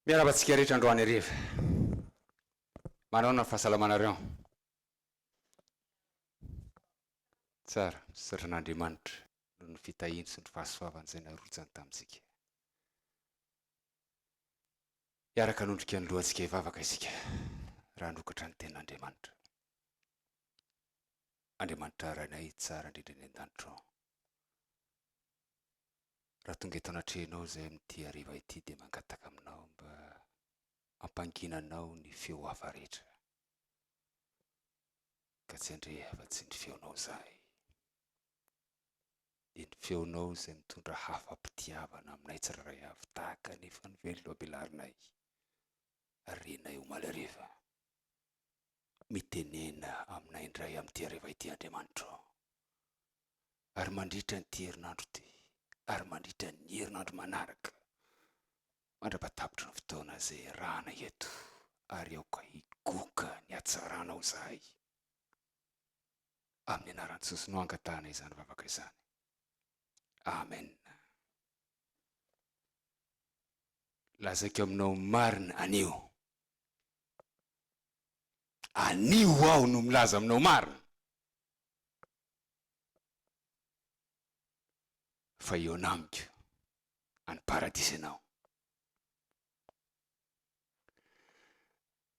Miarahaba antsika rehetra androany hariva. Manaona ny fahasalamanareo? Tsara, misaotra an'Andriamanitra noho ny fitahiany sy ny fahasoavany izay narotsany tamintsika. Hiaraka hanondrika ny lohantsika hivavaka isika raha hanokatra ny tenin'Andriamanitra. Andriamanitra Rainay tsara indrindra eny an-danitra ao. Raha tonga eto anatrehanao izahay amin'ity hariva ity dia mangataka aminao mba hampanginanao ny feo hafa rehetra, ka tsy handre afa-tsy ny feonao izahay. Dia ny feonao izay mitondra hafa-pitiavana aminay tsirairay avy tahaka ny efa novelombelarinay ary renay omaly hariva. Mitenena aminay indray amin'ity hariva ity Andriamanitro ô. Ary mandritra an'ity herinandro ity, ary mandritra ny herinandro manaraka, mandra-patapitry ny fotoana izay iarahana eto, ary aoka higoka ny hatsaranao izahay. Amin'ny anaran'i Jesosy no angatahana izany vavaka izany. Amen. Lazaiko aminao marina anio. Anio aho no milaza aminao marina fa eo anamiko any paradisa ianao.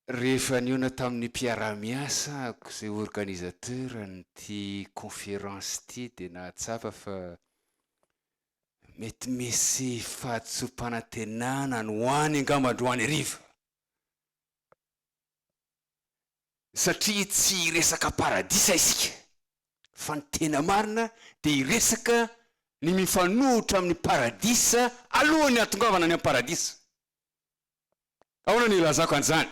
Rehefa nihaona tamin'ny mpiara-miasako izay organisateur an'ity conférence ity dia nahatsapa fa Mety misy fahatsoam-panantenana any ho any angamba androany hariva, satria tsy hiresaka paradisa isika, fa ny tena marina dia hiresaka ny mifanohitra amin'ny paradisa alohan'ny hahatongavana any amin'ny paradisa. Ahoana no hilazako an'izany?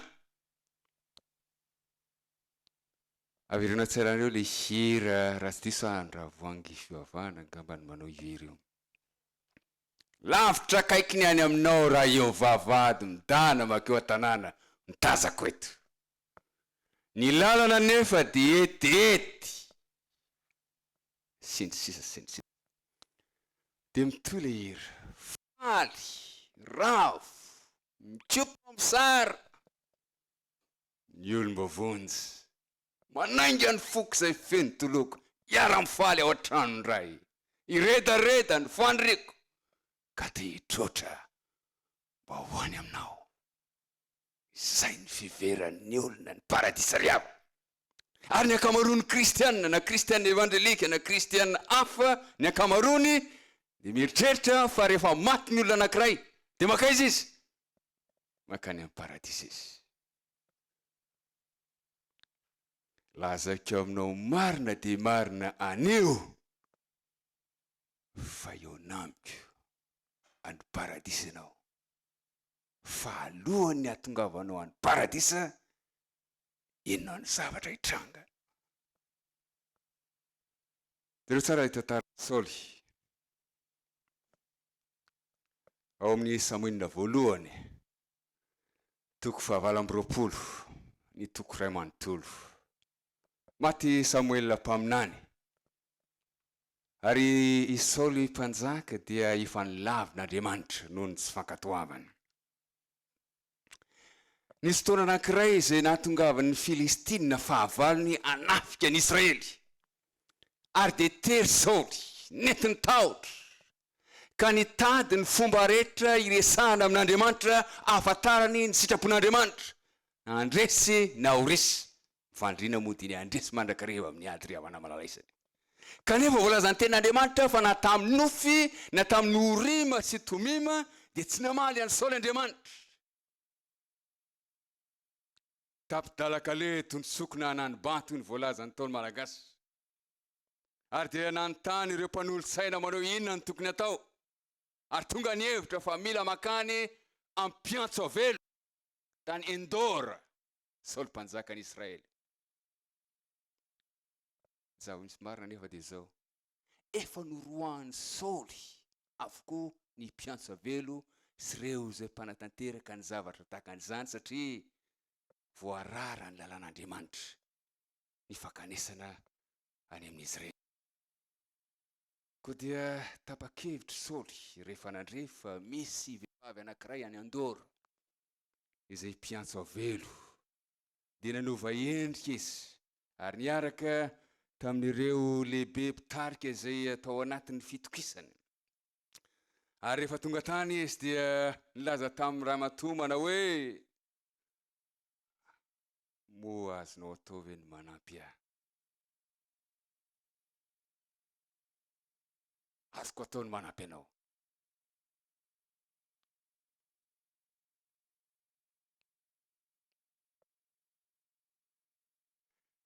Avereno tsara reo le hira raha tsy diso aho Andravoahangy fivavahana angamba no manao io hira io. Lavitra akaiky ny any aminao raha eo vavahady midahana makeo an-tanàna no tazako eto. Ny lalana anefa dia etiety sy ny sisa sy ny sisa. Dia mitohy le hira, faly, ravo, mikopa mosary. Ny olom-ba vonjy. Manainga ny foko izay feno toloko hiara-mifaly ao an-tranon dray hiredareda ny faniriako ka te hitroatra mba ho any aminao izay ny fiveran ny olona ny paradisa ry havana ary ny ankamaroan ny kristiana na kristiana evanjelika na kristiana hafa ny ankamaroany dia mieritreritra fa rehefa maty ny olona anankiray dia makaiza izy? Mankany amin'ny paradisa izy. Lazaiko aminao marina dia marina anio fa eo amiko any paradisa ianao. Fa alohan'ny hahatongavanao any paradisa, inona no zavatra hitranga? Jereo tsara ilay tantaran'i Saoly. Ao amin'ny Samoela voalohany, Toko fahavalo amby roapolo, ny toko iray manontolo. Maty i Samoela mpaminany, ary i Saoly mpanjaka dia efa nilavina Andriamanitra noho ny tsy fankatoavany. Nisy fotoana anankiray izay nahatongavan'ny Filistina fahavalony hanafika an'i Israely, ary dia tery Saoly, nety ny tahotra. ka nitady ny fomba rehetra hiresahana amin'Andriamanitra hahafantarany ny sitrapon'Andriamanitra, na handresy na ho resy, ny fandriana moa dia ny handresy mandrakariva amin'ny ady ry havana malalaisany. Kanefa voalazan'ny tenin'Andriamanitra fa na tamin'i Nofy na tamin'i Orima sy Tomima dia tsy namaly an'i Saoly Andriamanitra. Tapi-dalan-kaleha tontsokina an'Anibato iny voalazan'ny Ntaolo Malagasy. ary dia nanontany ireo mpanolotsaina manao inona no tokony atao ary tonga ny hevitra fa mila makany ampiantso avelo tany Endora Saoly mpanjakan'i Israely. Zaho misy marina nefa dia izao, efa noroahan'i Saoly avokoa ny mpiantso avelo sy ireo izay mpanatanteraka ny zavatra tahaka an'izany satria voarara ny lalàn'Andriamanitra. ny fankanesana any amin'izy ireny. Koa dia tapa-kevitra i Saoly rehefa nandre fa misy vehivavy anankiray any Andora izay mpiantso avelo, dia nanova endrika izy ary niaraka tamin'ireo lehibe mpitarika izay tao anatin'ny fitokisany. Ary rehefa tonga tany izy dia nilaza tamin'ny ramatoa manao hoe, Moa azonao atao ve ny manampy ahy? Azoko atao ny manampy anao.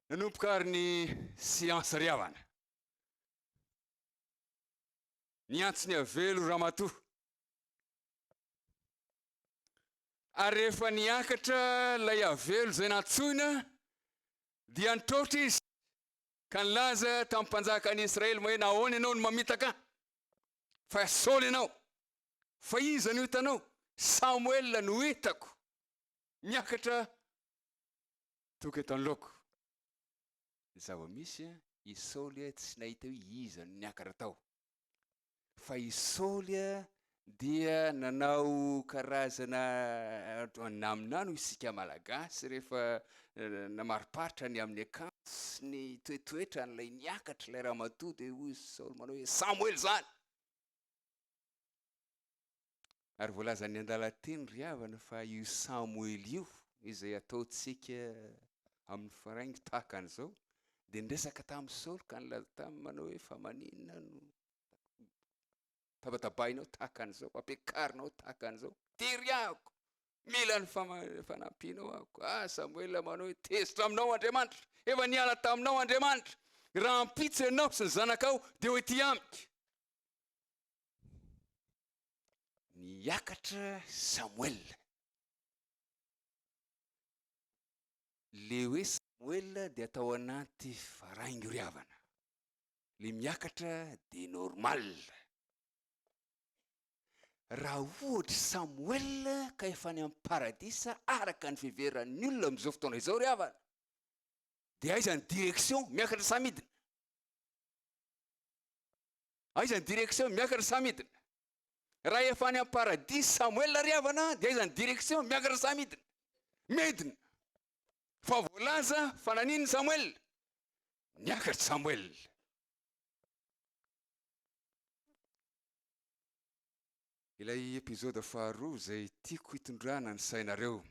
Nanomboka ary ny siansa ry havana. Niantso ny avelo ramatoa. Ary rehefa niakatra ilay havelo izay nantsoina, dia nitroatra izy ka nilaza tamin'ny mpanjakan'i Israely hoe, Nahoana ianao no mamitaka? Fa Saoly ianao. Fa iza no hitanao? Samoela no hitako miakatra toka eto anoloako. Ny zava-misy, i Saoly tsy nahita hoe iza no niakatra tao. fa i Saoly dia nanao karazana naminany hoy isika malagasy rehefa namariparitra ny amin'ny akanjo sy ny toetoetrany ilay niakatra ilay ramatoa dia hoy Saoly manao hoe Samoela izany Ary voalazan'ny andalan-teny ry havana fa io Samoela io, izay ataontsika amin'ny faraingo tahaka an'izao, dia niresaka tamin'i Saoly ka nilaza taminy manao hoe, fa maninona no tabatabainao tahaka an'izao, ampiakarinao tahaka an'izao, tery ahako, mila ny fanampianao ahako. Ah, Samoela manao hoe, tezitra aminao Andriamanitra, efa niala taminao Andriamanitra, rahampitso ianao sy ny zanakao, dia ho ety amiko. Niakatra Samoela. Ilay hoe Samoela dia tao anaty faraingoriavana. Ilay miakatra dia normal. Raha ohatry Samoela ka efa any amin'ny paradisa araka ny fiheveran'ny olona amin'izao fotoana izao ry havana, dia aiza ny direction? Miakatra sa midina? Aiza ny direction? Miakatra sa midina? Raha efa any am-paradisa Samoela ry havana dia aiza ny direction? Miakatra sa midina? Midina! Fa voalaza fa naninona Samoela? Niakatra Samoela. Ilay episode faharoa izay tiako hitondrana ny sainareo.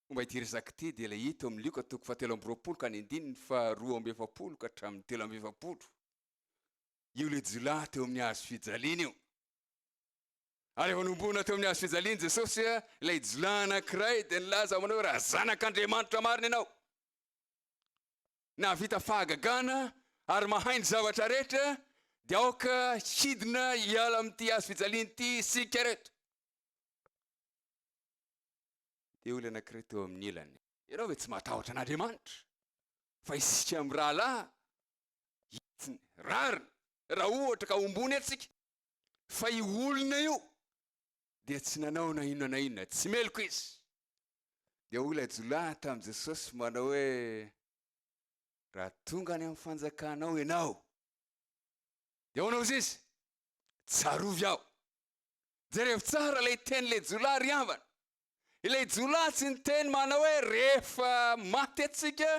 Momba ity resaka ity dia ilay hita eo amin'ny Lioka toko fahatelo amby roapolo ka ny andininy faharoa amby efapolo ka hatramin'ny telo amby efapolo. Io ilay jiolahy teo amin'ny hazo fijaliana io. Ary efa nomboana teo amin'ny hazo fijaliana Jesosy ilay jiolahy anankiray dia nilaza aminy hoe raha zanak'Andriamanitra marina ianao. Nahavita fahagagana ary mahay ny zavatra rehetra dia aoka hidina hiala amin'ity hazo fijaliana ity isika rehetra. dia olona anankiray teo amin'ny ilany. Ianao ve tsy matahotra an'Andriamanitra fa isika mirahalahy hitsiny rariny raha ohatra ka hombony antsika? Fa io olona io dia tsy nanao na inona na inona, tsy meloka izy. Dia hoy ilay jiolahy tamin'i Jesosy manao hoe, Raha tonga any amin'ny fanjakanao ianao, dia ahoana hozy izy? Tsarovy aho. Jerevo tsara ilay teny ilay jiolahy ry havana. Ilay jiolahy tsy niteny manao hoe rehefa maty antsika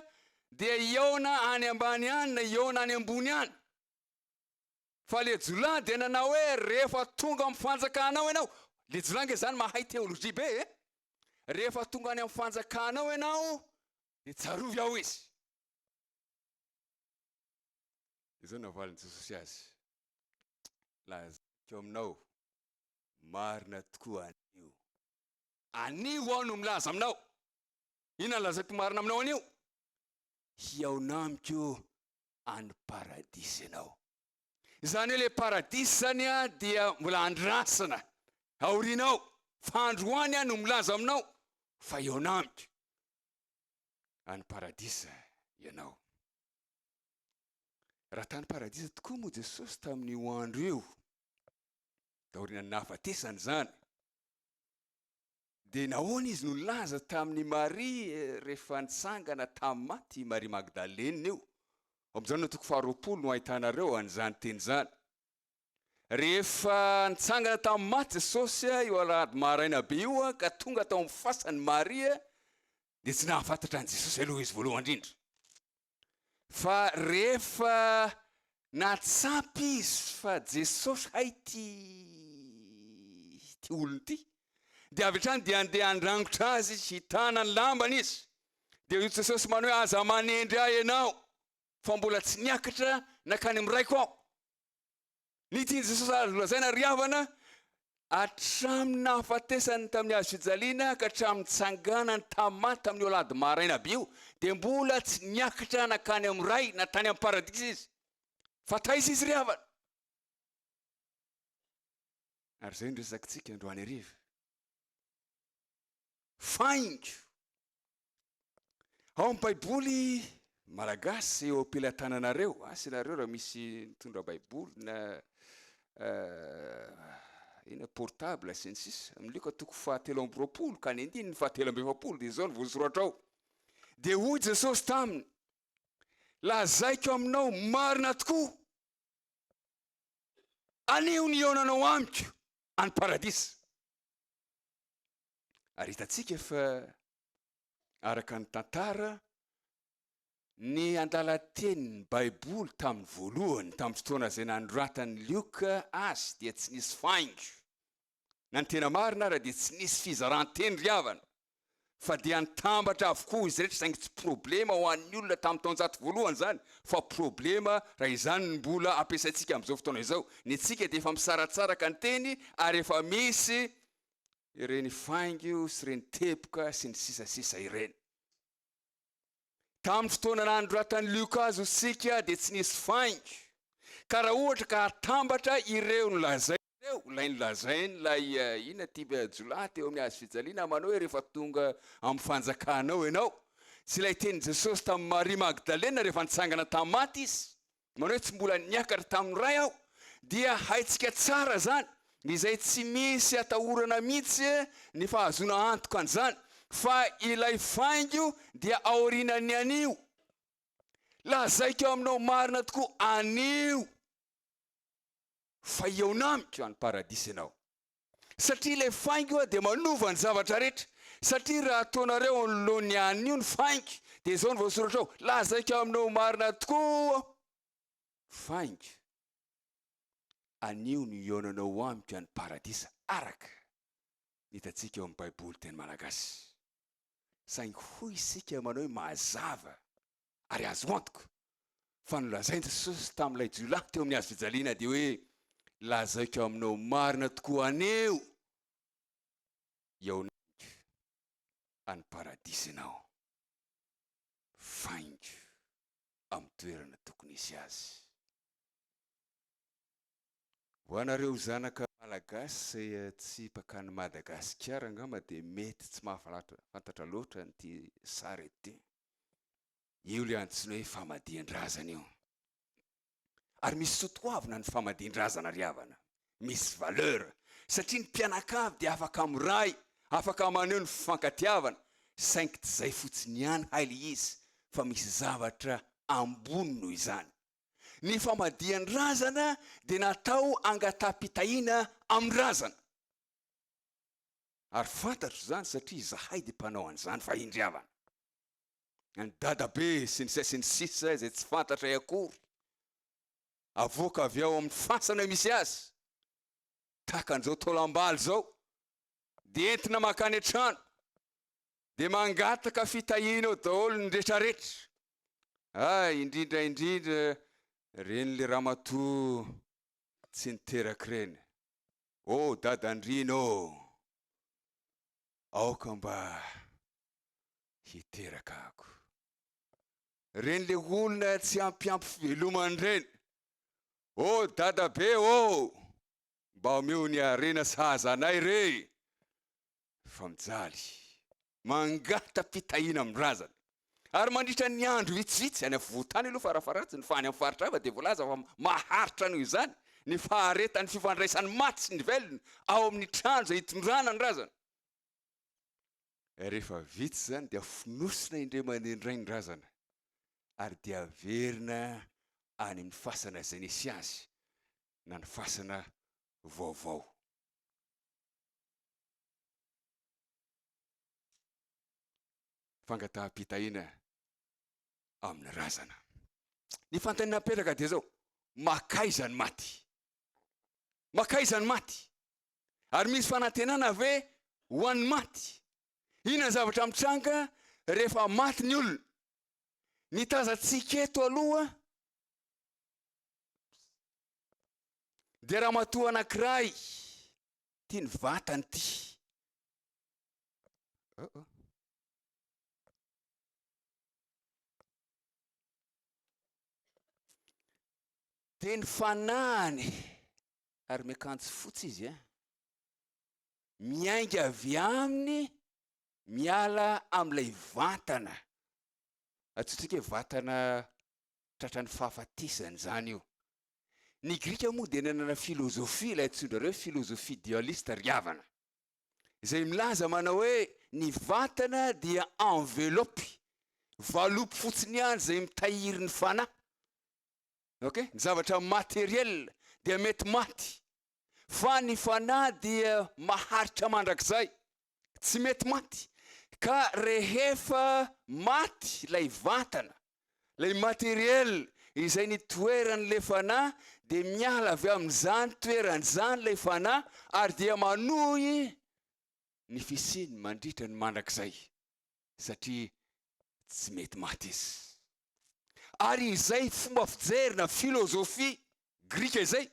dia hihaona any ambany any na hihaona any ambony any. Fa ilay jiolahy dia nanao hoe rehefa tonga amin'ny fanjakanao ianao, ilay jiolahy ange izany mahay teolojia be e. Rehefa tonga any amin'ny fanjakanao ianao dia tsarovy aho izy. Izao navalin'i Jesosy azy. lazaiko aminao, marina tokoa anio. Anio aho no milaza aminao. Inona no lazaiko marina aminao anio? Hihaona amiko any paradisa ianao. Izany hoe ilay paradisa izany dia mbola andrasana aorianao, fa androany aho no milaza aminao fa hihaona amiko any paradisa ianao. Raha tany paradisa tokoa moa Jesosy tamin'io andro io, taorian'ny nahafatesany izany, dia nahoana izy no nilaza tamin'i Maria eh, rehefa nitsangana tamin'ny maty i Maria Magdalena io? Ao amin'ny Jaona toko faharoapolo no ahitanareo an'izany teny izany. Rehefa nitsangana tamin'ny maty Jesosy eh, io alahady maraina be io eh, ka tonga tao amin'ny fasan'i Maria, dia tsy nahafantatra an'i Jesosy aloha izy voalohany indrindra. Fa rehefa nahatsapa izy fa Jesosy hay ity ity olona ity dia avy hatrany dia andeha handrangotra azy izy, hitana ny lambany izy. Dia hoy Jesosy man hoe aza manendry ahy ianao fa mbola tsy niakatra nakany amin'ny raiko aho. Ny tian'i Jesosy azo lazaina ry havana, hatramin'ny nahafatesany tamin'ny hazo fijaliana ka hatramin'ny nitsanganany tamin'ny maty tamin'io alahady maraina be io, dia mbola tsy niakatra nankany amin'ny Ray na tany amin'ny Paradisa izy, fa taiza izy ry havana? Ary izay no resakintsika androany hariva. Faingo Ao amin'ny Baiboly malagasy eo am-pelatananareo, asa ianareo raha misy nitondra Baiboly na ina portable sy ny sisa, amin'io ka toko fahatelo amby roapolo ka ny andininy fahatelo amby efapolo dia izao ny voasoratra ao. Dia hoy Jesosy taminy, lazaiko aminao marina tokoa, anio ny hihaonanao amiko any paradisa. Ary hitantsika fa araka ny tantara, ny andalatenin'ny Baiboly tamin'ny voalohany, tamin'ny fotoana izay nanoratan'i Lioka azy, dia tsy nisy faingo. Na ny tena marina ara dia tsy nisy fizaran-teny ry havana, fa dia nitambatra avokoa izy rehetra, saingy tsy problema ho an'ny olona tamin'ny taonjato voalohany izany, fa problema raha izany no mbola ampiasaintsika amin'izao fotoana izao. Ny antsika dia efa misaratsaraka ny teny ary efa misy ireny faingo sy ireny teboka sy ny sisa sisa ireny. Tamin'ny fotoana nanoratan'i Lioka azy isika dia tsy nisy faingo, ka raha ohatra ka atambatra ireo nolazainy ireo, ilay nolazainy ilay eh, inona ty eh, jiolahy teo amin'ny hazo fijaliana amanao hoe rehefa tonga amin'ny fanjakanao ianao, sy ilay tenin'i Jesosy tamin'i Maria Magdalena rehefa nitsangana tamin'ny maty izy, Nareo tsy mbola niakatra tamin'ny Ray aho dia haintsika tsara zany izay tsy misy atahorana mihitsy ny fahazoana antoka an'izany fa ilay faingo dia aorianan'ny anio. Lazaiko aminao marina tokoa anio fa hihaona amiko any paradisa ianao. satria ilay faingo dia manova ny zavatra rehetra, satria raha ataonareo anoloan'ny anio ny faingo dia izao no voasoratra ao, lazaiko aminao marina tokoa aho, faingo, anio no hihaonanao amiko any paradisa araka ny hitantsika ao amin'ny baiboly teny malagasy, saingy hoy isika manao hoe mazava Ary azo antoka fa nolazain'i Jesosy tamin'ilay jiolahy teo amin'ny hazo fijaliana dia hoe, Lazaiko aminao marina tokoa, aneo iaona amiko any paradisa ianao. Vaingo amin'ny toerana tokony hisy azy. Ho anareo zanaka malagasy izay tsy mpankany Madagasikara angamba dia mety tsy mahafantatra loatra an'ity sary ity. Io ilay antsoina hoe famadihan-drazana io. Ary misy soa toavina ny famadihan-drazana ry havana. Misy valeur. Satria ny mpianakavy dia afaka miray, afaka maneho ny fifankatiavana, saingy tsy izay fotsiny ihany hay ilay izy fa misy zavatra ambony noho izany. Ny famadihan-drazana dia natao hangataham-pitahiana amin'ny razana. Ary fantatro izany satria izahay dia mpanao an'izany fa indry havana, an'i dadabe sy ny sisa sy ny sisa izay tsy fantatray akory, avoaka avy ao amin'ny fasana misy azy, tahaka an'izao taolam-balo izao, dia entina mankany an-trano, dia mangataka fitahiana ao daholo ny retraretra, ay, indrindra indrindra ireny le ramatoa tsy niterak'ireny. Oh dadandriana ô! Aoka mba hiteraka ako. Reny le olona tsy ampy ampy fivelomany reny. Oh dadabe ô! Mba omeo ny harena sahaza anay re! fa mijaly, mangata-pitahiana amin'ny razana. Ary mandritra ny andro vitsivitsy, any afovoan-tany aloha farafaharatsiny, fa any amin'ny faritra hafa dia voalaza fa maharitra noho izany ny faharetan'ny fifandraisan'ny maty sy ny velona ao amin'ny trano izay itondrana ny razana. Rehefa vita izany dia fonosina indray mandeha indray ny razana ary dia averina any amin'ny fasana izay nisy azy na ny fasana vaovao. fangataham-pitahiana amin'ny razana. Ny fanontaniana napetraka dia izao, makaiza ny maty? Makaiza ny maty? Ary misy fanantenana ve ho an'ny maty? Inona ny zavatra mitranga rehefa maty ny olona? Ny tazantsika eto aloha dia ramatoa anankiray Ity ny vatany ity. Oh oh. Dia ny fanahiny ary miakanjo fotsy izy eh. Miainga avy aminy miala amin'ilay vantana. Atsotsika hoe vatana tratran'ny fahafatesana izany io. Ny Grika moa dia nanana filôzôfia, ilay antsoin-dRareo hoe filôzôfia dialista ry havana, izay milaza manao hoe ny vatana dia envelope, valopy fotsiny ihany izay mitahiry ny fanahy. Okay? Ny zavatra matériel dia mety maty, fa ny fanahy dia maharitra mandrakizay, tsy mety maty, ka rehefa maty ilay vatana, ilay matériel izay nitoeran'ilay fanahy dia miala avy amin'izany toerana izany ilay fanahy ary dia manohy ny fisiany mandritra ny mandrakizay satria tsy mety maty izy. ary izay fomba fijery na filôzôfia grika izay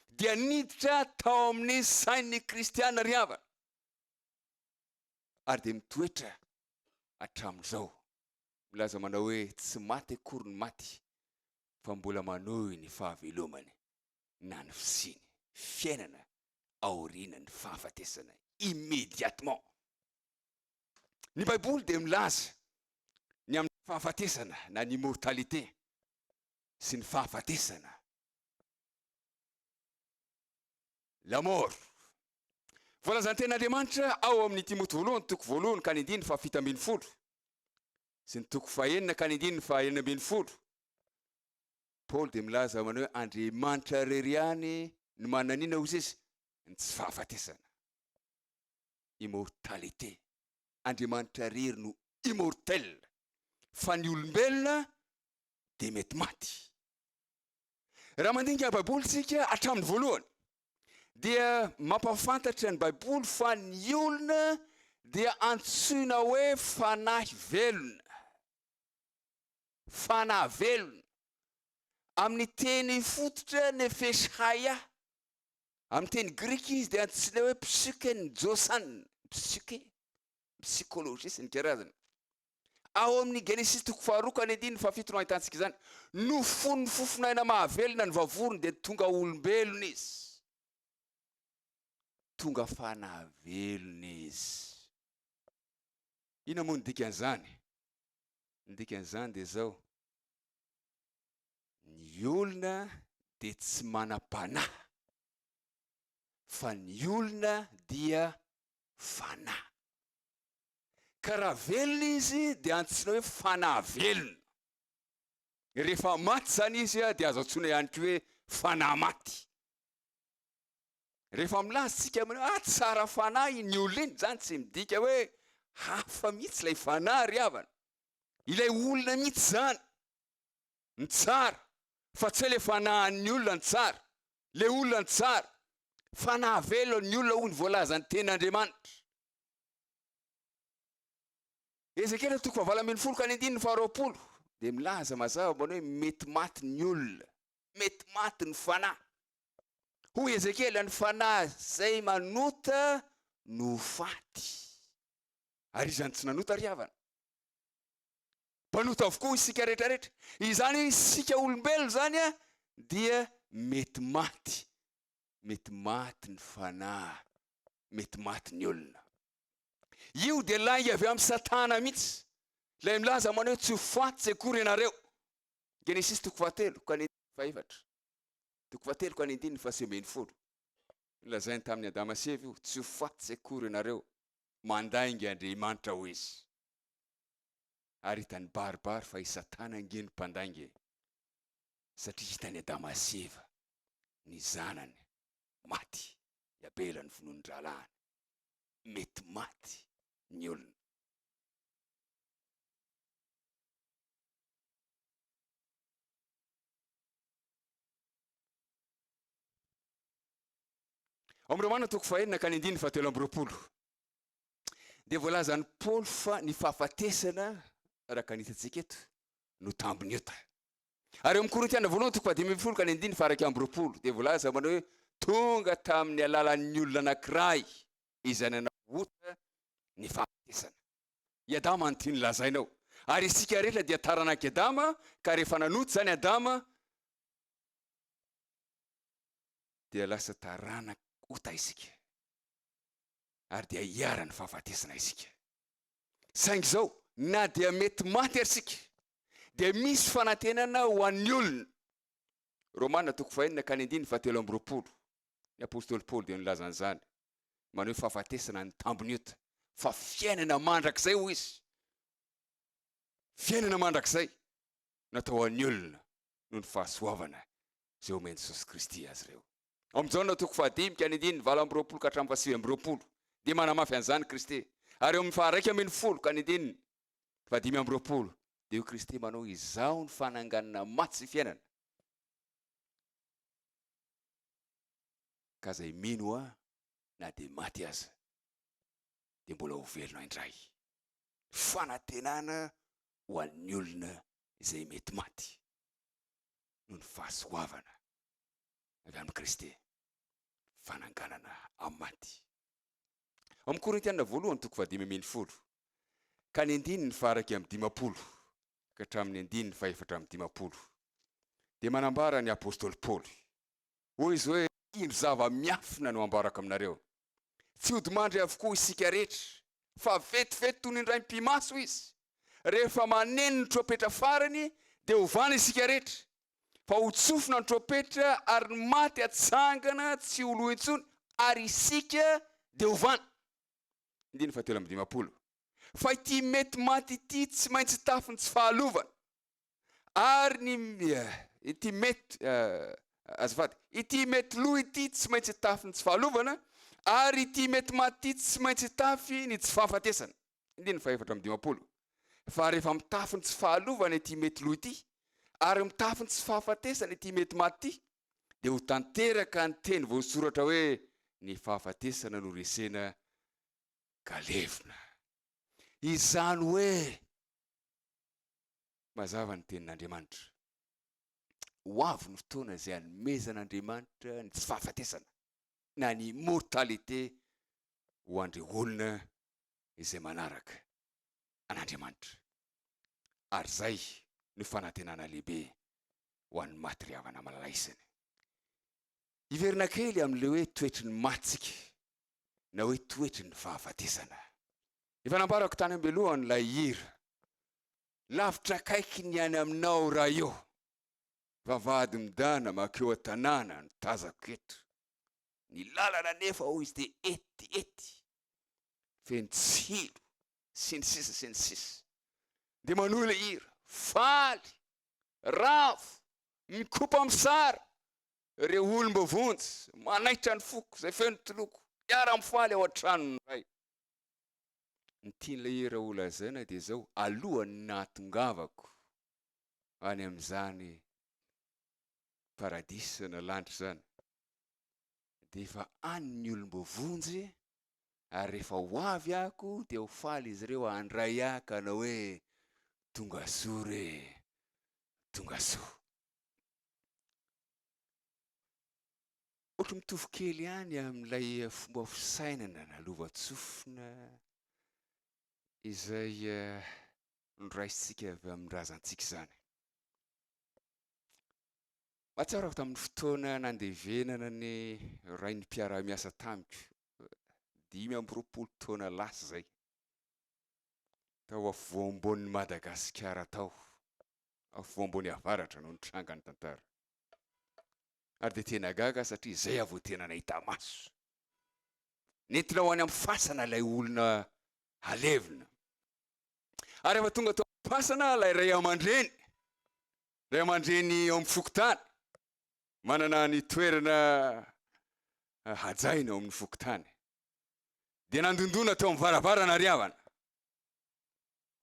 dia niditra tao amin'ny sain'ny kristiana ry havana, ary dia mitoetra hatramin'izao, milaza manao hoe tsy maty akory ny maty fa mbola manohy ny fahavelomany na ny fisiany, fiainana aorianan'ny fahafatesana, immédiatement. Ny baiboly dia milaza ny amin'ny fahafatesana na ny immortalité sy ny fahafatesana, la mort. Voalazan'ny tenin'Andriamanitra ao amin'ny Timoty voalohany toko voalohany ka ny andininy faha fito ambin'ny folo sy ny toko faha enina ka ny andininy faha enina ambin'ny folo, Paoly dia milaza aminy hoe Andriamanitra irery ihany no mananina ozy izy ny tsy fahafatesana. immortalité, Andriamanitra irery no immortel fa ny olombelona dia mety maty. Raha mandinika ny baiboly isika hatramin'ny voalohany dia mampahafantatra ny baiboly fa ny olona dia antsoina hoe fanahy velona, fanahy velona, amin'ny teny fototra nefesh haya, Amin'ny teny grika izy dia antsoina hoe psyken' Josan, psyke, psykôlôjia sy ny karazany. Ao amin'ny Genesisy toko faharoa ka ny andininy fahafito no ahitantsika izany. Nofonin'ny fofon'aina mahavelona ny vavony dia tonga olombelona izy. Tonga fanahy velona izy. Inona moa ny dikan'izany? Ny dikan'izany dia izao. Ny olona dia tsy manam-panahy, fa ny olona dia fanahy. Ka raha velona izy dia antsoina hoe fanahy velona. Rehefa maty izany izy dia azo antsoina ihany koa hoe fanahy maty. Rehefa milaza isika amin'ny hoe ah, tsara fanahy iny olona iny, izany tsy midika hoe hafa mihitsy ilay fanahy ry havana. Ilay olona mihitsy izany. ny tsara fa tsy hoe le fanahan'ny olona ny tsara, le olona ny tsara fa nahavelo ny olona hoy ny voalazan'ny tenin'Andriamanitra. Ezekiela toko fahavalo ambin'ny folo ka ny andininy faharoapolo dia milaza mazava manao hoe mety maty ny olona, mety maty ny fanahy. Hoy Ezekiela ny fanahy izay manota no faty. Ary izany tsy nanota ry havana. mpanota avokoa isika rehetra rehetra. Izany isika olombelona izany dia mety maty, mety maty ny fanahy, mety maty ny olona. Io dia lainga avy amin'ny satana mihitsy, ilay milaza manao tsy ho faty tsy akory ianareo. Genesis toko fahatelo ka ny fahefatra, toko fahatelo ka ny andininy fahasivy ambin'ny folo. Nilazainy tamin'ny Adama sy Eva io, tsy ho faty tsy akory ianareo, mandainga Andriamanitra hoy izy. ary hitany baribary fa i satana ange no mpandainga e! satria hitan'i adama sy eva ny zanany maty i abela novonoin'ny rahalahiny mety maty ny olona Ao amin'ny Romana toko fahenina ka ny andininy fahatelo amby roapolo. Dia voalazan'i Paoly fa ny fahafatesana, araka ny hitantsika eto, no tambiny ota. Ary eo amin'ny Korintiana voalohany toko fahadimy ambin'ny folo ka ny andininy faha iraika amby roapolo dia voalaza manao hoe tonga tamin'ny alalan'ny olona anankiray izay nanao ota ny fahafatesana. I Adama no tiany lazaina ao. Ary isika rehetra dia taranak'i Adama ka rehefa nanota izany Adama dia lasa taranak'ota isika. ary dia hiharan'ny fahafatesana isika. Saingy izao, na dia mety maty ary isika, dia misy fanantenana ho an'ny olona. Romana toko fahenina ka ny andininy fahatelo amby roapolo. Ny apostoly Paoly dia nilaza an'izany, manao hoe fahafatesana ny tambiny ota, fa fiainana mandrakizay hoy izy. Fiainana mandrakizay natao ho an'ny olona noho ny fahasoavana izay omen'i Jesosy Kristy azy ireo. Ao amin'ny Jaona toko fahadimy ka ny andininy valo amby roapolo ka hatramin'ny fahasivy amby roapolo dia manamafy an'izany Kristy, ary eo amin'ny faharaika ambin'ny folo ka ny andininy fahadimy amby roapolo dia hoy Kristy, Manao Izaho ny fananganana maty sy fiainana, ka izay mino Ahy na dia maty aza dia mbola ho velona indray. Fanantenana ho an'ny olona izay mety maty noho ny fahasoavana avy amin'i Kristy, fananganana amin'ny maty. Ao amin'ny Korintiana voalohany toko fahadimy ambin'ny folo ka ny andininy faha-iraika amby dimampolo ka hatramin'ny andininy fahefatra amby dimampolo dia manambara ny apostoly Paoly, hoy izy hoe, indro zava-miafina no ambarako aminareo, tsy hodi-mandry avokoa isika rehetra, fa vetivety toy ny indraim-pimaso izy, rehefa maneno ny trompetra farany dia hovana isika rehetra, fa ho tsofina ny trompetra ary ny maty hatsangana tsy ho lo intsony ary isika dia ho vana. Andininy fahatelo amby dimampolo. Fa ity mety maty ity tsy maintsy tafin'ny tsy fahalovana. Ary ny ity mety azafady, ity mety lo ity tsy maintsy tafin'ny tsy fahalovana ary ity mety maty ity tsy maintsy tafy ny tsy fahafatesana. andininy fahefatra amby dimampolo, fa rehefa mitafy ny tsy fahalovana ity mety lo ity, ary mitafy ny tsy fahafatesana ity mety maty ity, dia ho tanteraka ny teny voasoratra hoe, Ny fahafatesana no resena ka levona. Izany hoe, mazava ny Tenin'Andriamanitra, ho avy ny fotoana izay hanomezan'Andriamanitra ny tsy fahafatesana, na ny immortalité, ho an'ireo olona izay manaraka an'Andriamanitra. Ary izay no fanantenana lehibe ho an'ny maty ry havana malalaisany. Hiverina kely amin'ilay hoe toetry ny matsika na hoe toetry ny fahafatesana. Efa nambarako tany am-belohany ilay hira, Lavitra akaiky ny any aminao ra eo, vavahady midana makeo an-tanàna no tazako eto, ny lalana anefa hoy izy dia ety, ety, feno tsilo sy ny sisa sy ny sisa dia manohy ilay hira faly ravo mikopa misara ireo olomba vonjy manaitra ny foko izay feno toloko hiara mifaly ao an-tranony iray ny tian'ilay hira ho lazaina dia izao alohan'ny nahatongavako any amin'izany paradisa na lanitra izany dia efa any ny olom-boavonjy e! ary rehefa ho avy ako dia ho faly izy ireo handray ahy ka hanao hoe, Tongasoa re! Tongasoa! Ohatry mitovy kely ihany amin'ilay fomba fisainana na lovantsofina izay noraisintsika avy amin'ny razantsika izany. Mahatsiaro aho tamin'ny fotoana nandevenana ny rain'ny mpiara-miasa tamiko, dimy amby roapolo taona lasa izay, tao afovoam-boan'ny Madagasikara tao, afovoam-boan'ny avaratra no nitranga ny tantara. Ary dia tena gaga aho satria izay aho vao tena nahita maso. Nentina ho any amin'ny fasana ilay olona halevina. Ary rehefa tonga tao amin'ny fasana ilay ray aman-dreny, Ray aman-dreny ao amin'ny fokontany, manana ny toerana hajaina ao amin'ny fokontany, dia nandondona tao amin'ny varavarana ry havana.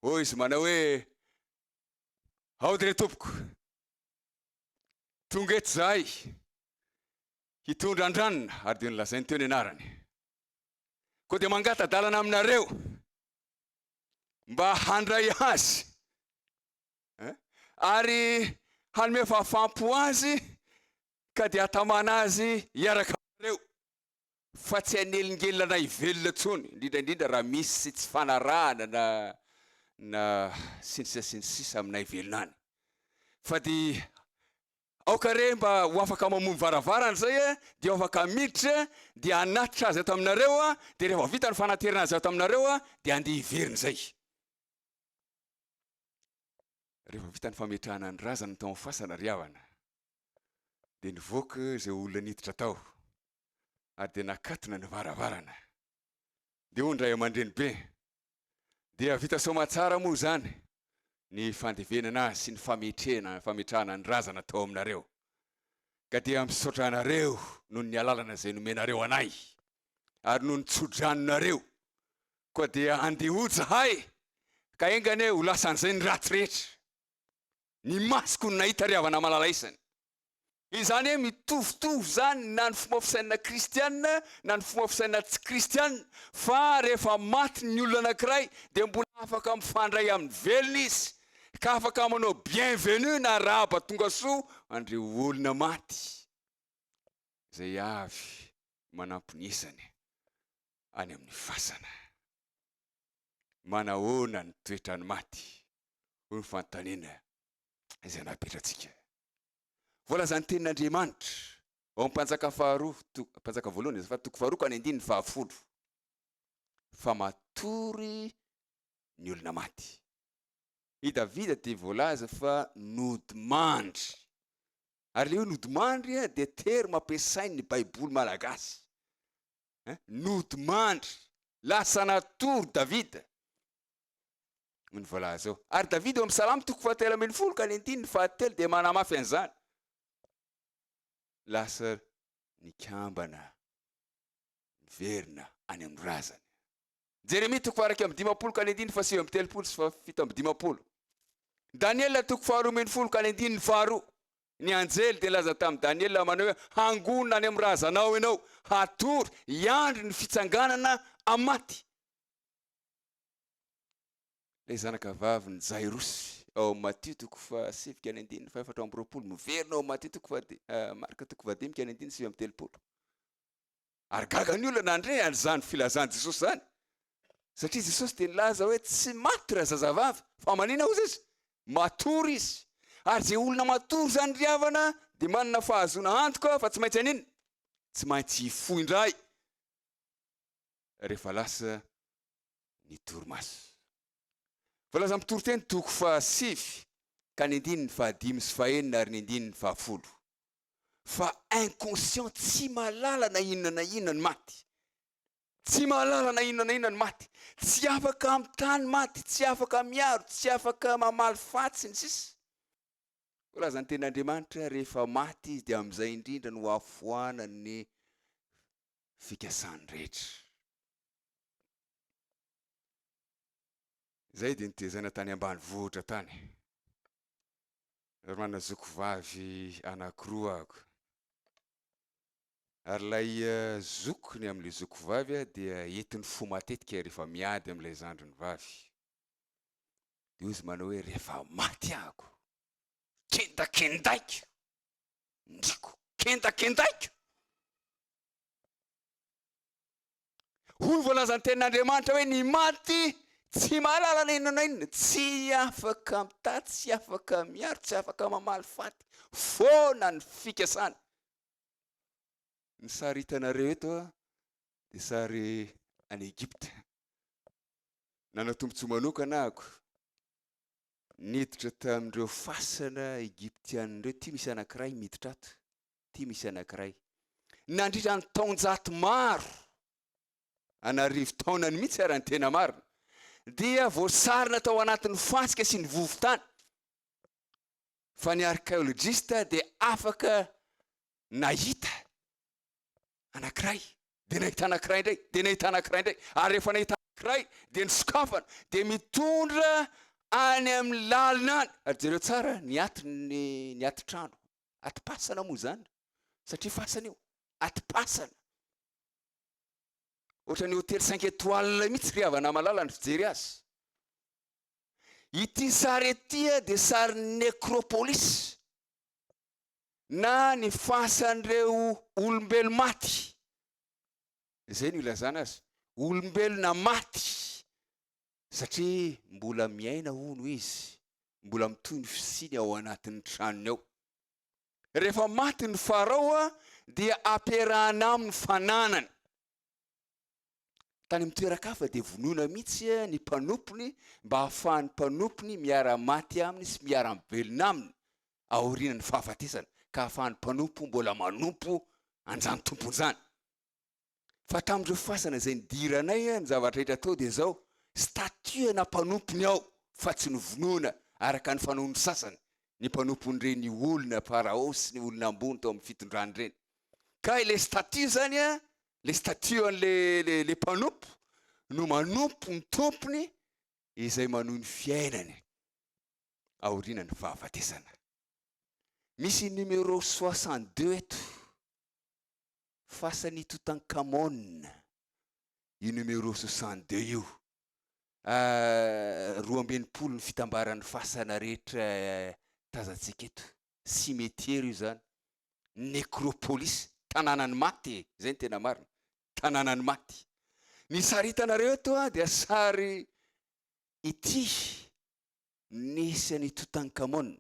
Hoy izy manao hoe, Aody re tompoko, tonga eto zahay hitondra andranona, ary dia nolazainy teo ny anarany. Koa dia mangata-dalana aminareo mba handray azy eh? ary hanome fahafaham-po azy ka dia hatamana azy hiaraka aminareo fa tsy hanelingelina na hivelona intsony indrindra indrindra raha misy tsy fanarahana na na sy ny sisa sy ny sisa aminay velona any fa dia aoka re mba ho afaka mamono varavarana zay e dia ho afaka miditra e dia hanatitra azy ato aminareo a dia rehefa vita ny fanaterana azy ato aminareo a dia andeha hiverina izay Rehefa vita ny fametrahana ny razana tao amin'ny fasana ry havana, dia nivoaka izay olona niditra tao ary dia nakatona ny varavarana. Dia hoy ny ray aman-drenibe, Dia vita soamantsara moa izany ny fandevenana azy sy ny fametrena, fametrahana ny razana tao aminareo. Ka dia misaotra anareo noho ny alalana izay nomenareo anay ary noho ny tso-dranonareo Koa dia andeha ho zahay, ka enga anie ho lasan'izay ny ratsy rehetra. Ny masoko no nahita ry havana malala isany. Izany hoe mitovitovy izany na ny fomba fisainana kristiana na ny fomba fisainana tsy kristiana, fa rehefa maty ny olona anankiray dia mbola afaka mifandray amin'ny velona izy, ka afaka manao bienvenue na arahaba tonga soa an'ireo olona maty izay avy manamponesany. any amin'ny fasana. Manahoana ny toetran'ny maty? hoy ny fanontaniana izay napetratsika. Voalazan'ny tenin'Andriamanitra ao amin'ny Mpanjaka faharoa, Mpanjaka voalohany azafady, toko faharoa ka ny andininy fahafolo, fa matory ny olona maty. I Davida dia voalaza fa nodimandry. Ary ilay hoe nodimandry dia terma ampiasain'ny Baiboly malagasy. nodimandry, lasa natory Davida noho ny voalaza eo. Ary Davida eo amin'ny Salamo toko fahatelo ambin'ny folo ka ny andininy fahatelo dia manamafy an'izany. Lasa nikambana miverina any amin'ny razany. Jeremia toko faharaiky amin'ny dimampolo ka ny andininy fahasivy amin'ny telopolo sy fahafito amin'ny dimampolo. Daniela toko faharoa ambin'ny folo ka ny andininy faharoa. Ny anjely dia nilaza tamin'i Daniela manao hoe, Hangonina any amin'ny razanao ianao, hatory, hiandry ny fitsanganana amin'ny maty. Ilay zanakavavin'i Jairosy ao amin'ny Matio toko fahasivy ka ny andininy fahefatra amby roapolo, miverina ao amin'ny Matio toko fahadimy, Marka toko fahadimy ka ny andininy sivy amby telopolo. Ary gaga ny olona nandre an'izany filazan'i Jesosy izany, satria Jesosy dia nilaza hoe tsy maty raha zazavavy, fa manina ozy izy? Matory izy. Ary izay olona matory izany ry havana dia manana fahazoana antoka fa tsy maintsy hanina? Tsy maintsy hifoha indray rehefa lasa ny torimaso. Voalazan'ny mpitoriteny toko fahasivy ka ny andininy fahadimy sy fahenina ary ny andininy fahafolo. fa inconscient tsy mahalala na inona na inona ny maty tsy mahalala na inona na inona ny maty tsy afaka amin'ny tany maty tsy afaka miaro tsy afaka mamaly fatsy ny sisa razany ten'andriamanitra rehefa maty izy dia amin'izay indrindra no afoanan'ny fikasany rehetra zay dia nitezana tany ambany vohitra tany ry manazoky vavy anankiroa ako. Ary ilay zokiny amin'ilay zoky vavy dia entiny fo matetika rehefa miady amin'ilay zandriny vavy. Dia hozy manao hoe rehefa maty ako, kendakendaiko, ndriko, kendakendaiko. Hoy ny voalazan'ny tenin'Andriamanitra hoe ny maty tsy mahalala na inona na inona, tsy afaka mitady, tsy afaka miaro, tsy afaka mamaly faty, foana ny fikasany. Ny sary hitanareo eto dia sary any Egypta. Nanao tombontsoa manokana ako. Niditra tamin'ireo fasana Egyptianina ireo, ity misy anankiray miditra ato. ity misy anankiray. Nandritra ny taonjato maro, an'arivo taonany mihitsy ara ny tena marina, dia voasarona tao anatin'ny fasika sy ny vovon-tany fa ny arkeolojista dia afaka nahita anankiray, dia nahita anankiray indray, dia nahita anankiray indray, ary rehefa nahita anankiray dia nisokafana, dia mitondra any amin'ny lalina any, ary jereo tsara ny atin'ny ny atitrano, Atim-pasana moa izany, satria fasana io, atim-pasana. Ohatran'ny hotely cinq étoiles mihitsy ry havana malala ny fijery azy. Ity sary ity dia sarin'ny necropolis na ny fasan'ireo olombelo maty. Izay no ilazana azy, olombelona maty. satria mbola miaina hono izy, mbola mitohy ny fisiany ao anatin'ny tranony ao. Rehefa maty ny Farao dia ampiarahana aminy fananany. Tany amin'ny toeran-kafa dia vonoina mihitsy ny mpanompony mba hahafahan'ny mpanompony miara-maty aminy sy miara-mivelona aminy aorianan'ny fahafatesany, ka hahafahan'ny mpanompo mbola manompo an'izany Tompo izany. fa tamin'ireo fasana izay nidiranay ny zavatra rehetra atao dia izao, statut ana mpanompo ny ao fa tsy novonoina araka ny fanaon'ny sasany ny mpanompon'ireny olona pharaon sy ny olona ambony tao amin'ny fitondrany ireny. Ka ilay statut izany an, ilay statut an'ilay ilay mpanompo no manompo ny tompony izay manohy ny fiainany aoriana ny fahafatesana. Misy numéro soixante deux eto. fasan'i Toutankhamon io numéro soixante deux io ahh roa amby enimpolo ny fitambaran'ny fasana rehetra tazantsika eto, cimetière io zany, necropolis, tanànan'ny maty e, zay ny tena marina, tanànan'ny maty. Ny sary hitanareo eto an dia sary ity nisy an'i Toutankhamon.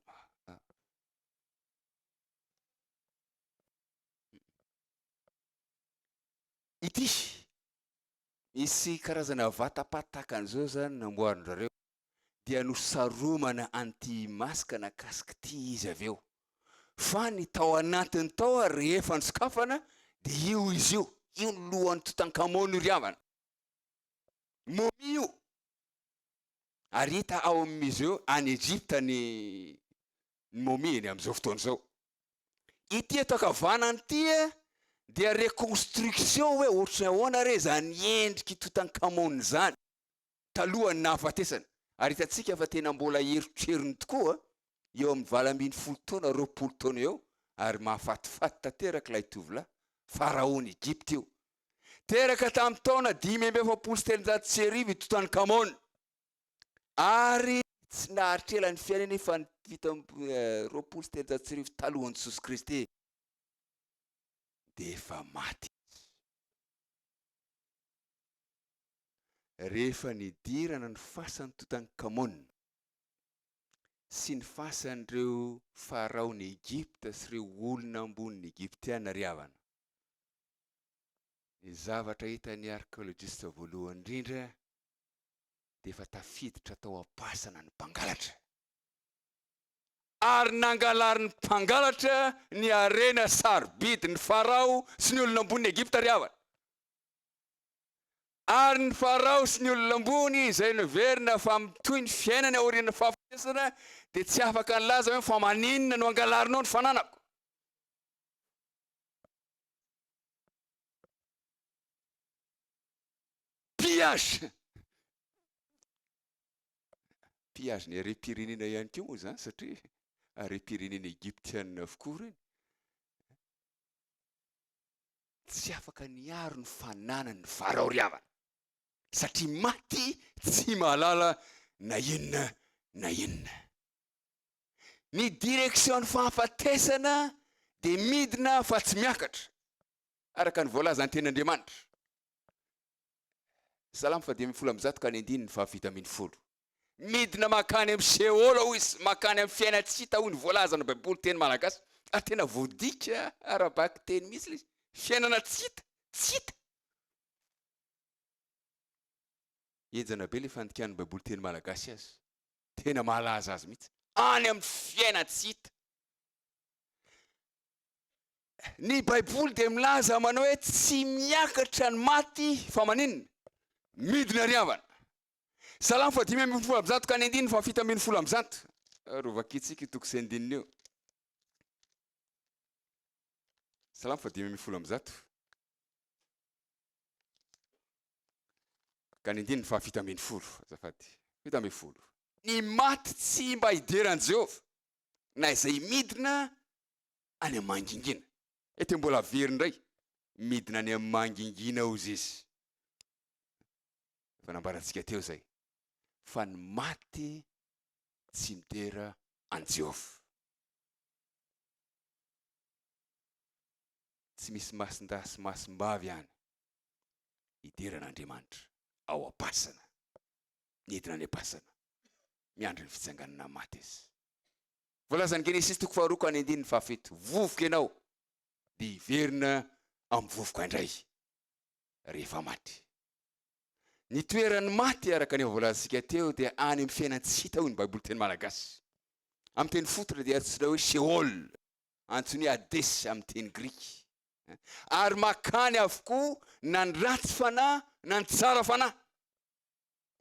Ity, misy karazana vatapata tahaka an'izao izany namboarin-drareo dia nosaromana an'ity masque na casque ity izy avy eo. Fa ny tao anatiny tao ary rehefa nisokafana dia io izy io, io ny lohan'i Toutankhamon io ry havana. Momie io. Ary hita ao amin'ny museo any Egypte ny ny momie ny amin'izao fotoana izao. Ity eto ankavanana ity dia reconstruction hoe ohatry ny ahoana re izany endrik'i Toutankhamon izany talohan'ny nahafatesany. Ary hitantsika fa tena mbola erotrerony tokoa eo amin'ny valo ambin'ny folo taona, roapolo taona eo ary mahafatifaty tanteraka ilay tovolahy, Faraon'i Egypta io. Teraka tamin'ny taona dimy amby efapolo sy telonjato sy arivo i Toutankhamon. ary tsy naharitra ela ny fiainany fa ny fito amby roapolo sy telonjato sy arivo talohan'i Jesosy Kristy dia efa maty izy. Rehefa nidirana ny fasan'ny Totankamona sy ny fasan'ireo faraon'i Egypta sy ireo olona ambonin'ny Egyptiana ry havana, ny zavatra hitan'ny arkeolojista voalohany indrindra dia efa tafiditra tao am-pasana ny mpangalatra, ary nangalarin'ny mpangalatra ny harena sarobidy ny Farao sy ny olona ambonin'i Egypta ry havana. Ary ny Farao sy ny olona ambony izay niverina fa mitohy ny fiainany aorian'ny fahafatesana dia tsy afaka nilaza hoe, Fa maninona no angalarinao ny fananako? Pillage! Pillage-ny harem-pirenena ihany koa moa izany satria harem-pirenena egyptianina avokoa ireny. Tsy afaka niaro ny fananany ny Farao ry havana satria maty tsy mahalala na inona na inona. Ny direction-n'ny fahafatesana dia midina fa tsy miakatra. araka ny voalazan'ny tenin'Andriamanitra. Salamo faha dimy ambin'ny folo amby zato ka ny andininy faha fito ambin'ny folo. Midina mankany amin'ny Seôla hoy izy, mankany amin'ny fiaina tsy hita hoy ny voalazan'ny Baiboly teny malagasy, ary tena voadika ara-bakiteny mihitsy ilay izy, fiainana tsy hita, tsy hita. Henjana be ilay fandikan'ny Baiboly teny malagasy azy, tena mahalaza azy mihitsy, any amin'ny fiaina tsy hita. Ny baiboly dia milaza manao hoe tsy miakatra ny maty fa maninona? Midina ry havana. Salamo faha dimy ambin'ny folo amby zato ka ny andininy faha fito ambin'ny folo amby zato. Ary vakintsika io toko sy andininy io. Salamo faha dimy ambin'ny folo amby zato. Ka ny andininy faha fito ambin'ny folo, azafady. Fito ambin'ny folo. Ny maty tsy mba hideran'i Jehovah na izay midina any am mangingina. Ety mbola very ndray midina any am mangingina ao zisy efa nambarantsika teo zay fa ny maty tsy midera an Jehovah. Tsy misy masindahy sy masimbavy any hidera an Andriamanitra ao am pasana. Nidina any am pasana miandry ny fitsanganana am maty izy. Voalazan'i Genesisy toko faharoa ka ny andininy fahafito, Vovoka ianao, dia hiverina amin'ny vovoka indray rehefa maty. Ny toeran'ny maty araka ny efa voalazantsika teo dia any amin'ny fiainana tsy hita hoy ny Baiboly teny malagasy. Amin'ny teny fototra dia antsoina hoe Sheol, antsoiny hoe Hades amin'ny teny grika. Ary makany avokoa na ny ratsy fanahy na ny tsara fanahy.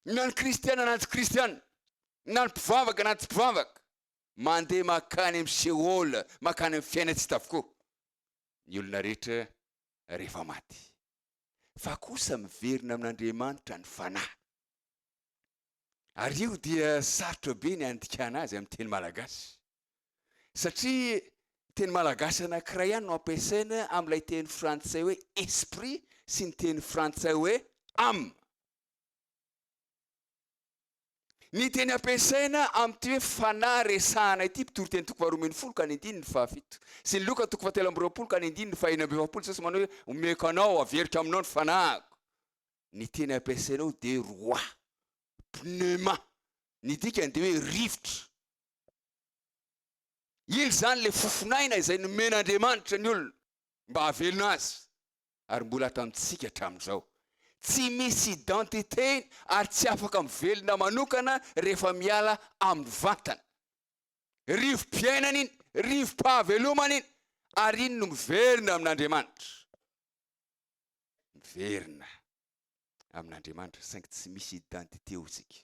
na ny kristiana na ny tsy kristiana, na ny mpivavaka na ny tsy mpivavaka, mandeha makany amin'ny Sheol, makany amin'ny fiaina tsy hita avokoa ny olona rehetra rehefa maty. Fa kosa miverina amin'Andriamanitra ny fanahy. Ary io dia sarotra be ny handikana azy amin'ny teny malagasy. satria teny malagasy anankiray ihany no ampiasaina amin'ilay teny frantsay hoe esprit sy ny teny frantsay hoe âme. Ny teny ampiasaina amin'ity hoe fanahy resahana ity, mpitory teny toko faharoa ambin'ny folo ka ny andininy fahafito, sy ny loka toko fahatelo amby roapolo ka ny andininy fahenina amby efapolo, Jesosy manao hoe omeko anao, averiko aminao ny fanahiko. Ny teny ampiasaina ao dia roa, pneuma, ny dikany dia hoe rivotra, Iny izany ilay fofon'aina izay nomen'Andriamanitra ny olona mba hahavelona azy, ary mbola ato amintsika hatramin'izao. Tsy misy identité-ny ary tsy afaka mivelona manokana rehefa miala amin'ny vantana. Rivo-piainana iny, rivo-pahavelomana iny, ary iny no miverina amin'Andriamanitra. Miverina amin'Andriamanitra saingy tsy misy identité ho isika.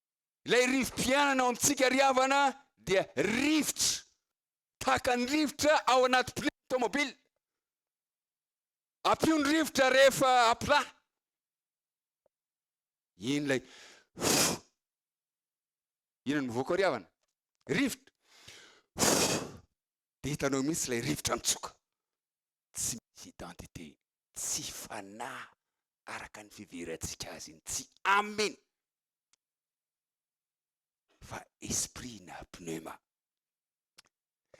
Ilay rivo-piainana ao amintsika ry havana dia rivotra, tahaka ny rivotra ao anaty pneu tomobile. Ampio ny rivotra rehefa aplat. Iny ilay inona no mivoaka ao ry havana? Rivotra. Dia hitanao mihitsy ilay rivotra mitsoka. Tsy misy identité, tsy fanahy araka ny fiverentsika azy iny, tsy aminy. fa esprit na pneuma.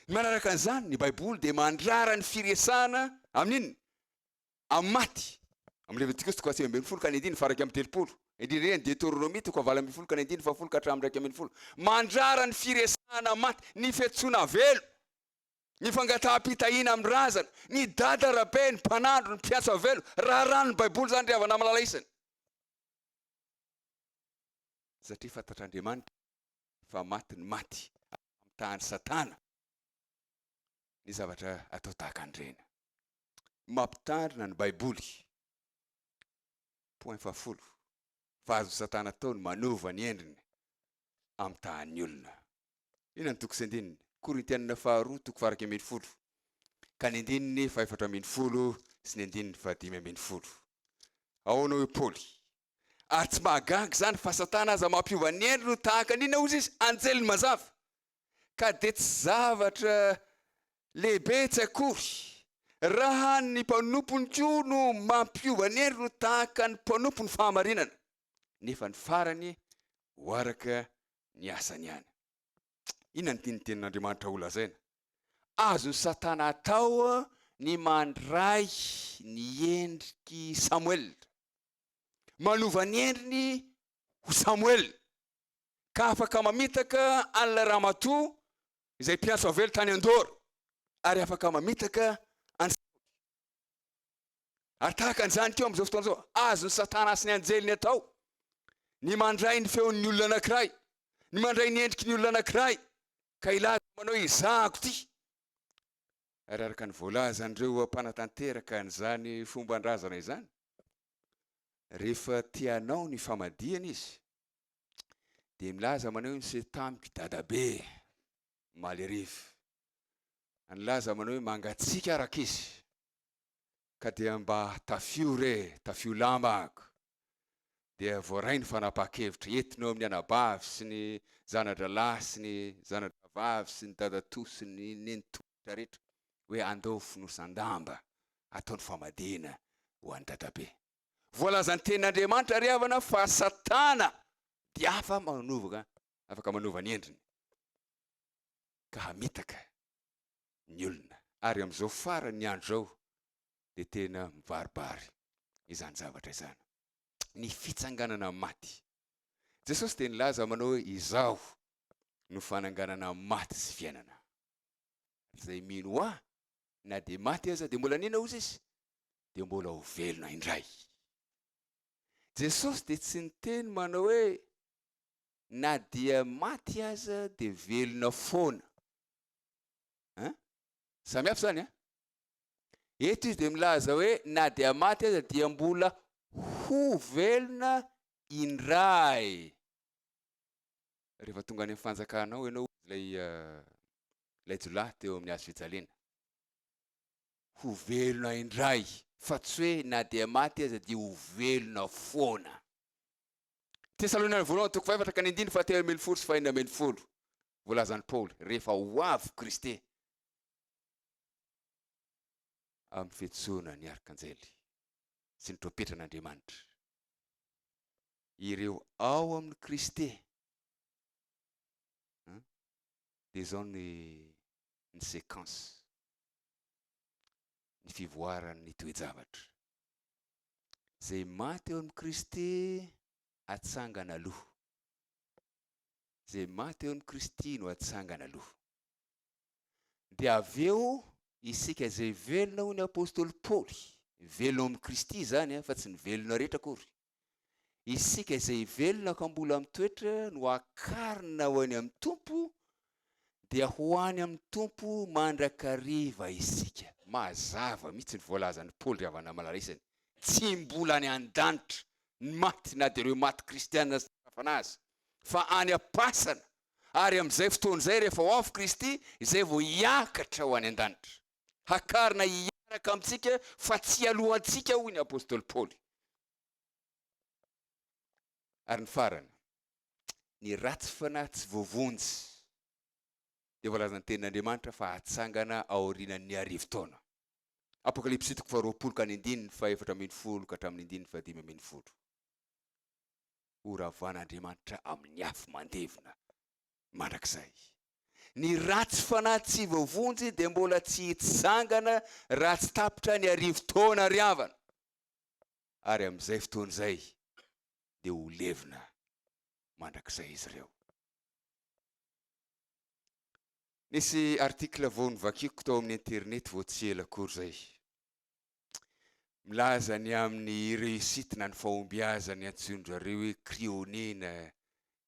Ny manaraka an'izany, ny Baiboly dia mandrara ny firesahana amin'inona? Amin'ny maty. Amin'ny Levitikosy toko fahasivy ambin'ny folo ka ny andininy faha iraika amby telopolo. Indrindra indrindra ny Deteronomia toko fahavalo ambin'ny folo ka ny andininy fahafolo ka hatramin'ny iraika ambin'ny folo. Mandrara ny firesahana amin'ny maty, ny fiantsoana avelo, ny fangataham-pitahiana amin'ny razana, ny dada, rabe, ny mpanandro, ny mpiantso avelo. Raharahan'ny Baiboly izany ry havana malala isany. Satria fantatr'Andriamanitra fa maty ny maty, ary namitahan'i Satana ny zavatra atao tahaka an'ireny. Mampitandrina ny Baiboly, point fahafolo, fa azon'i Satana atao ny manova ny endriny amitahan'ny olona. Liana ny toko sy andininy. Korintianina faharoa toko faha iraika ambin'ny folo ka ny andininy faha efatra ambin'ny folo sy ny andininy faha dimy ambin'ny folo. Ahoana hoy Paoly? Ary tsy mahagaga izany fa Satana aza mampiova ny endriny ho tahaka ny inona hozy izy? Anjeliny mazava. Ka dia tsy zavatra lehibe tsy akory raha ny mpanompony koa no mampiova ny endriny ho tahaka ny mpanompony fahamarinana, nefa ny farany ho araka ny asany ihany. Inona no tian'ny tenin'Andriamanitra holazaina? Azon'i Satana atao ny mandray ny endrik'i Samoela, manova ny endriny ho Samoela, ka afaka mamitaka an'ilay ramatoa izay mpiantso avela tany an-doro, ary afaka mamitaka an'i Saoly. Ary tahaka an'izany koa amin'izao fotoana izao, azon'i Satana sy ny anjeliny atao ny mandray ny feon'ny olona anankiray, ny mandray ny endriky ny olona anankiray, ka hilaza manao hoe izahako ity. Ary araka ny voalazan'ireo mpanatanteraka an'izany fomban-drazana izany, rehefa te hanao ny famadihana izy, dia milaza manao hoe miseho tamiko i dadabe, malerive, nilaza manao hoe mangatsiaka ary ankizy ka dia mba tafio re, tafio lamba ako. Dia voaray ny fanapahan-kevitra entina eo amin'ny anabavy sy ny zana-drahalahy sy ny zana-drahavavy sy ny dadatoa sy ny nenitoa rehetra rehetra hoe andao fonosan-damba atao ny famadihana ho an'i dadabe. Voalazan'ny tenin'Andriamanitra ry havana fa Satana dia afa manova, afaka manova ny endriny. ka hamitaka ny olona. Ary amin'izao faran'ny andro izao dia tena mibaribary izany zavatra izany, ny fitsanganana amin'ny maty. Jesosy dia nilaza manao hoe, Izaho no fananganana amin'ny maty sy fiainana. Izay mino Ahy, na dia maty aza, dia mbola nino ozy izy, dia mbola ho velona indray. Jesosy dia tsy niteny manao hoe, na dia maty aza dia velona foana an! samy hafa izany an! eto izy dia milaza hoe na dia maty aza dia mbola ho velona indray rehefa tonga any amin'ny fanjakana ao ianao ilay ilay jiolahy teo amin'ny hazo fijaliana ho velona indray fa tsy hoe na dia maty aza dia ho velona foana Tesaloniana voalohany toko fahefatra ka ny andininy fahatelo ambin'ny folo sy fahenina ambin'ny folo. Voalazan'i Paoly, rehefa ho avy Kristy amin'ny fetsoana ny arkanjely sy ny trompetran'Andriamanitra. Ireo ao amin'ny Kristy dia izao ny ny séquence ny fivoaran'ny toe-javatra. Izay maty eo amin'i Kristy atsangana aloha. Izay maty eo amin'i Kristy no atsangana aloha. Dia avy eo isika izay velona hoy ny apostoly Paoly, velona amin'i Kristy izany eh, fa tsy ny velona rehetra akory. Isika izay velona ka mbola mitoetra no akarina ho any amin'ny Tompo dia ho any amin'ny Tompo mandrakariva isika. Mazava mihitsy ny voalazan'i Paoly ry havana malala isany, tsy mbola any an-danitra ny maty na dia ireo maty kristiana aza tarafana aza, fa any am-pasana, ary amin'izay fotoana izay rehefa ho avy Kristy izay vao hiakatra ho any an-danitra, hakarina hiaraka amintsika fa tsy hialohantsika hoy ny apostoly Paoly. Ary ny farany, ny ratsy fanahy tsy voavonjy dia voalazan' ny tenin' Andriamanitra fa hatsangana aorianan' ny arivo taona. Apokalypsy toko faharoapolo ka ny andininy fahefatra ambin'ny folo ka hatramin' ny andininy fahadimy ambin'ny folo. Horavan' Andriamanitra amin' ny afo mandevona mandrakizay. Ny ratsy fanahy tsy voavonjy dia mbola tsy hitsangana raha tsy tapitra ny arivo taona ary havana. Ary amin' izay fotoana izay dia ho levona mandrakizay izy ireo. Nisy article vao novakiko tao amin'ny internet vao tsy ela akory izay. Milaza ny amin'ny réussite na ny fahombiazany antsoin-dRareo hoe cryogénie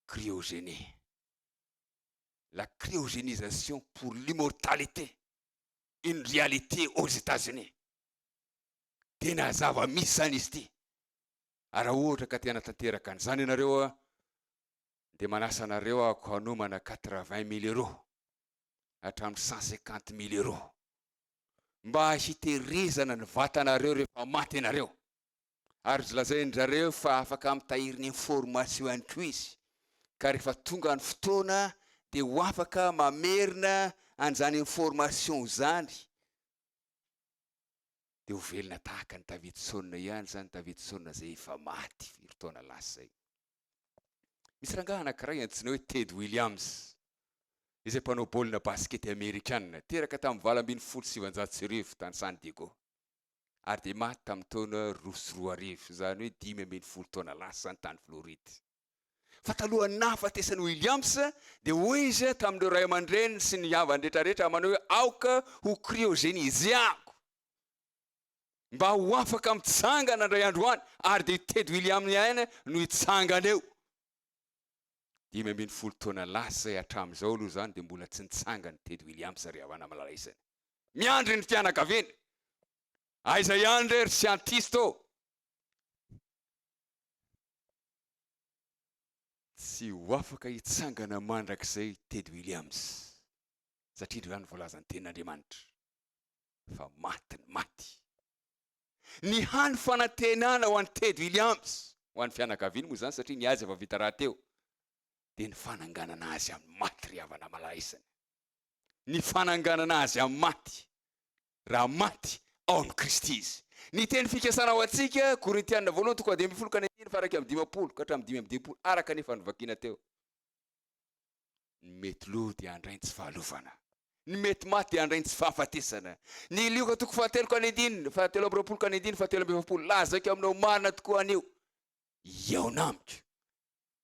cryogénie. La cryogénisation pour l'immortalité, une réalité aux États-Unis. Tena zava-misy izany izy ity. ary raha ohatra ka te hanatanteraka an'izany ianareo dia manasa anareo ako hanomana quatre-vingt mille euros hatramin'ny cent cinquante mille euros mba hitehirizana ny vatanareo rehefa maty ianareo ary lazain-drareo fa afaka mitahiry ny information ihany koa izy ka rehefa tonga ny fotoana dia ho afaka mamerina an'izany information izany dia ho velona tahaka an'i David Sôna ihany izany David Sôna izay efa maty firy taona lasa izay. Misy rangahy anankiray antsoina hoe Ted Williams izay mpanao baolina basikety amerikana, teraka tamin'ny valo ambin'ny folo sy sivanjato sy arivo tany San Diego ary dia maty tamin'ny taona roa sy roa arivo, izany hoe dimy ambin'ny folo taona lasa izany tany Floride. Fa talohan'ny nahafatesan'i Williams, dia hoy izy tamin'ireo ray aman-dreniny sy ny havany rehetrarehetra manao hoe, Aoka ho kriôzenizeako, mba ho afaka mitsangana indray andro any. Ary dia i Ted Williams ihany no hitsangana eo. Dimy ambin'ny folo taona lasa izay, hatramin'izao aloha izany, dia mbola tsy nitsangana i Ted Williams, ry havana malala isany. Miandry ny fianakaviany. Aiza ihany re ry siantista ô? Tsy ho afaka hitsangana mandrakizay Ted Williams satria indreo ihany voalazan'ny tenin'Andriamanitra fa maty ny maty. Ny hany fanantenana ho an'i Ted Williams, ho an'ny fianakaviany moa izany satria ny azy efa vita rahateo, dia ny fananganana azy amin'ny maty ry havana malaisina. Ny fananganana azy amin'ny maty. raha maty ao amin'i Kristy izy. Ny teny fikasana ho antsika, Korintiana voalohany toko fahadimy ambin'ny folo ka ny andininy fahairaika amby dimampolo ka hatramin'ny dimy amby dimampolo, araka ny efa novakina teo, Ny mety lo dia handray ny tsy fahalovana, ny mety maty dia handray ny tsy fahafatesana. Ny Lioka toko fahatelo ka ny andininy fahatelo amby roapolo ka ny andininy fahatelo amby efapolo, Lazako aminao marina tokoa anio, hihaona amiko.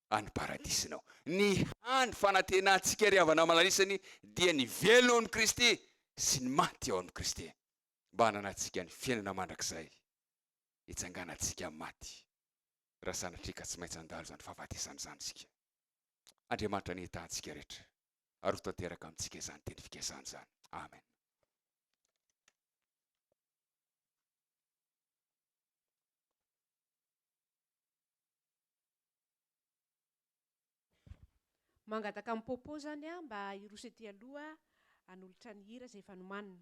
any paradisinao. Ny hany fanantenantsika ry havana malalisany dia ny velona ao amin'i Kristy sy ny maty ao amin'i Kristy, mba hananantsika ny fiainana mandrakizay hitsanganantsika amin'ny maty, raha sanatria ka tsy maintsy handalo izany fahafatesana izany isika. Andriamanitra nihitahantsika rehetra, ary ho tanteraka amintsika izany teny fikasany izany. Amen. Mangataka an'i Popo izany aho mba hiroso ety aloha hanolotra ny hira izay efa nomanina.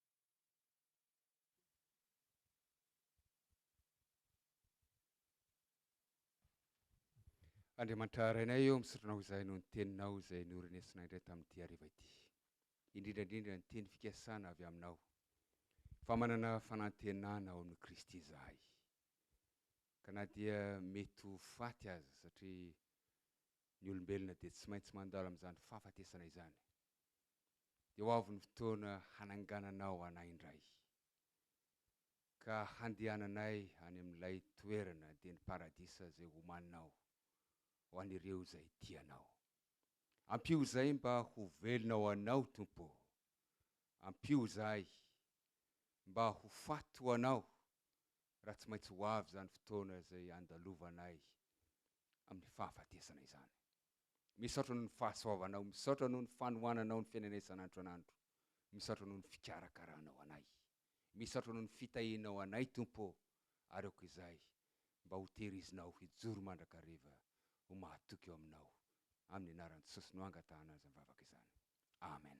Andriamanitra Rainay ô, misaotranao izahay noho ny Teninao izay norenesinay indray tamin'ity hariva ity. Indrindra indrindra ny teny fikasana avy Aminao, fa manana fanantenana ao amin'i Kristy izahay, ka na dia mety ho faty aza, satria ny olombelona dia tsy maintsy mandalo amin'izany fahafatesana izany, dia ho avy ny fotoana hanangananao anay indray, ka handehananay any amin'ilay toerana dieny paradisa izay homaninao ho an'ireo izay tia anao. Ampio izay mba ho velona ho anao, Tompo ô! Ampio izahay mba ho faty ho anao raha tsy maintsy ho avy izany fotoana izay andalovanay amin'ny fahafatesana izany. Misaotra noho ny fahasoavanao, misaotra noho ny fanohananao ny fiainanay isan'andro isan'andro, misaotra noho ny fikarakaranao anay, misaotra noho ny fitahianao anay Tompo ô, ary aoka izay mba ho tehirizinao hijoro mandrakariva ho mahatoky eo aminao, amin'ny anaran'i Jesosy no angatahana izany vavaka izany. Amen.